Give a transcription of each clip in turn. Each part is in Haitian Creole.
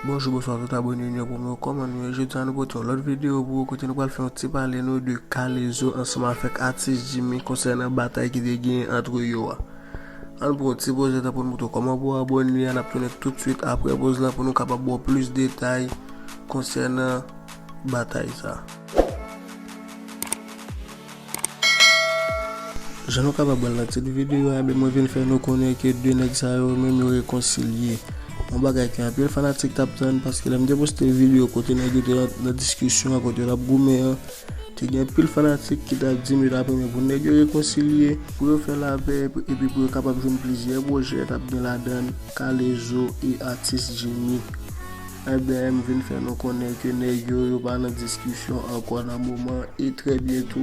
Bonjou bonswa tout abone nou yo pou mwen kòman nou ye jodi a nou pote yon lòt videyo pou ou kote nou pral fè yon ti pale nou de K-lezo ansanm avèk atis Jimmy konsènan batay ki te genyen antre yo a ann pran yon ti poz le tan pou nou moutre w kòman pou w abone a n ap tounen tout swit aprè poz la pou nou kapab ba w plis detay konsènan batay sa. Jan nou kapab wè l nan tit videyo a, mwen vin fè nou konnen ke 2 nèg sa yo menm yo rekonsilye. Yon bagay ke anpil fanatik t ap tann paske lè m te poste videyo kote nèg yo te nan diskisyon an, kote yo t ap goumen an, te gen anpil fanatik ki t ap di m yo t ap renmen pou nèg yo rekonsilye, pou yo fè lapè epi pou yo kapab jwenn plizyè pwojè k ap gen ladan l Kalezo e atis Djimi. Ebyen m vin fè nou konnen ke nèg yo, yo pa nan diskisyon ankò nan moman e trè byento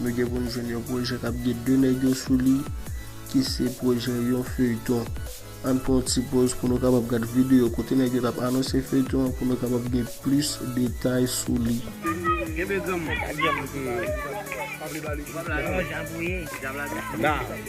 nou gen pou nou jwenn yon pwojè k ap gen 2 nèg yo sou li ki se pwojè yon feyton. Ann pran yon ti poz pou nou kapab gad videyo kote nèg yo t ap anonse feyton an pou nou kapab gen plis detay sou li.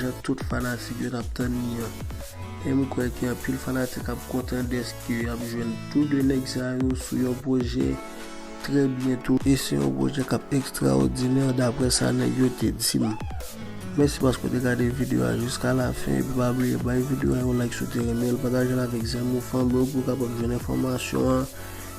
jan tout fanatik yo tap tann li an. E m kwè ke anpil fanatik ap kontan dèske y ap jwenn tou 2 nèg sa yo sou yon pwojè trè byento. E se yon pwojè k ap ekstraòdinè daprè sa nèg yo te di m. Mèsi paske w te gade videyo a jiska lafen epi pa bliye bay videyo a yon like si w te renmen l, pataje l avèk zanmi w, fanmi w pou yo kapab jwenn enfòmasyon an.